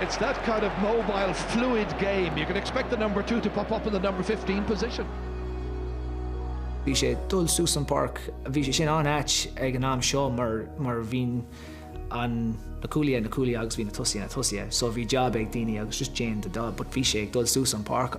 It's that kind of mobile, fluid game, you can expect the number two to pop up in the number fifteen position. Bhí sé ag dul suas an park, bhí sé sin an-ait ag an am seo mar bhíonn na cúlaithe ina gcúlaithe agus bhí na tosaithe ina dtosaithe so bhí jab ag daoine agus just déan do job but bhí sé ag dul suas an páirc.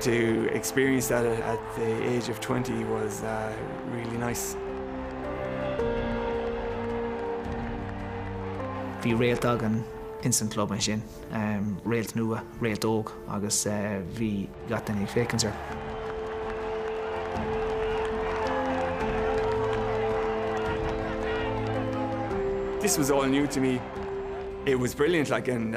to experience that at the age of twenty was really nice. Bhí réalt againn ins an club ansin, réalt nua, réalt óg agus bhí gach duine ag féachaint air. This was all new to me. It was brilliant like and.